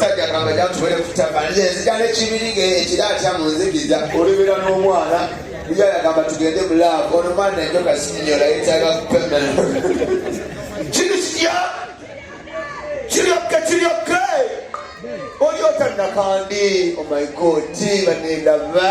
sajja kamba jatubere kutaba nze nzija nekibirige ekira atya mu nzikiza olibera n'omwana buja yagamba tugende mu laavu ono mwana enjoka sinyola yetaaga kupemera kiri kitya kiryokke kiryokke oli otannakandi oh my god banendaba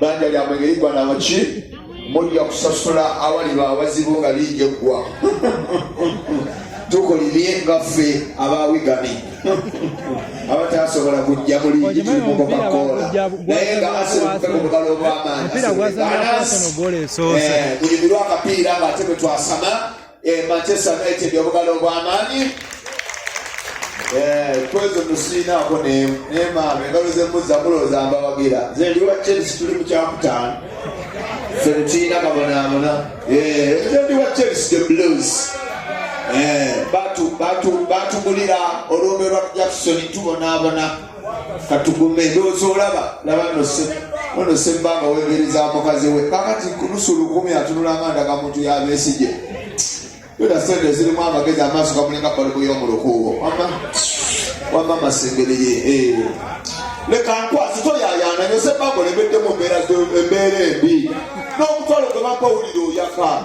banja lyamwe ngeriggwa na muki mujja kusasula awaliba awazibu nga liija eggwa tukolimye nga ffe abawigami abatasobola kujja mulingi tulimukokakoola naye nga asebuke ku mugalo ogwamaanyi eh, mulimirwa akapiira nga ate bwe twasama Eh, Manchester United obugalo obw'amaanyi eh, kwezo tusiinaako nemaama engalo zemuzza mulooza mbawagira nze ndi wa chelsea tuli mu kyakutaano fe tetulina kabonaabona eh, nze ndi wa chelsea the blues batugulira olwombe lwa jackson tubonaabona katugume ndowooza olaba laba ono sembanga wegereza mukazi we kakati kunusu lukumi atunula amanda ga muntu yabesigye yona sente zirimu amagezi amaaso gamulinga balubu yomulukuubo wama wama masembereye eh. leka nkwasi toyayaana nyo sembanga olemeddemu embeera embi n'omutwalo gwe bampa owulire oyaka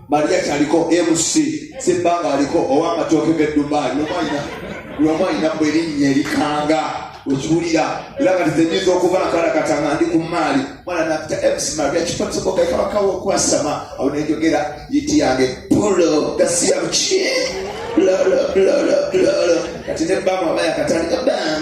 maria kyaliko mc sebbanga aliko owamatooke gedubai lwamu alina bwe erinnya erikanga okiwulira era kati zenyinza okuba nkalakata nga ndi ku maali mwana nafta mc maria kipatisokokekabakawo okwasama awo nenjogera yiti yange polo gasiyabuki kati ne bama bayakatandika bam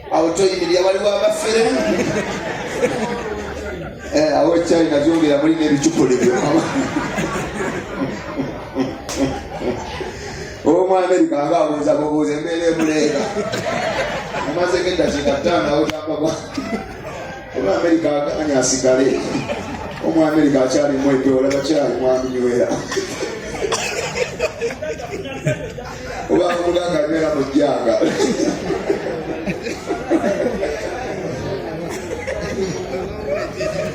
awo toyimirira waliwo abafere eh, awo ekyali nabyongera muli n'ebicupuli byo omu amerika aba abuuza bubuuza embeera emuleega amazeko eddakiika ttaano awo gyapagwa omu amerika aganya asigale omu amerika akyalimu ebyola bakyali mwami nywera oba muganga anywera mu jjanga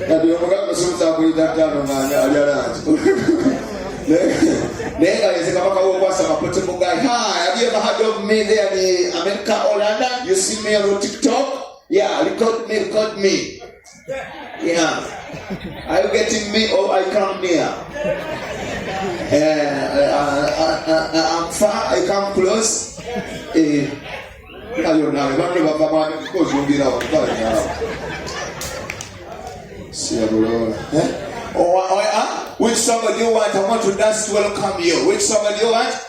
kati omuganga osuuza kulita ttaano ng'anya alya langi naye nga leze kabaka wokwasa mapote mugai ha have you ever heard of me there ni america or london you see me on tiktok yeah record me record me Yeah. Are you getting me or I come near? Uh, uh, uh, uh, I'm far, I come close. Eh, ayo nawe bantu bava mwani kukozumbira wakutala nyala. Siya bulola. Eh? Oh, oh, ah? Which somebody you want? I want to dance to welcome you. Which somebody you want?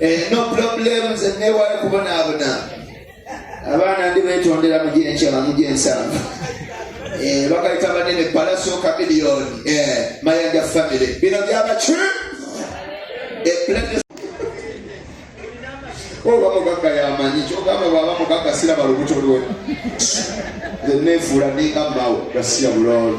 Eh, no problem nze newayo kubonaabona abaana ndi betondera mugyenkyama mugyensanvu eh, bakaita banene palaso kamiliyoni eh, mayanja family bino byabaki oba oh, mugagga yamanyi kyogamba bwaba mugagga siraba lubuto lwe nefuula ninga mawo gasiya bulolo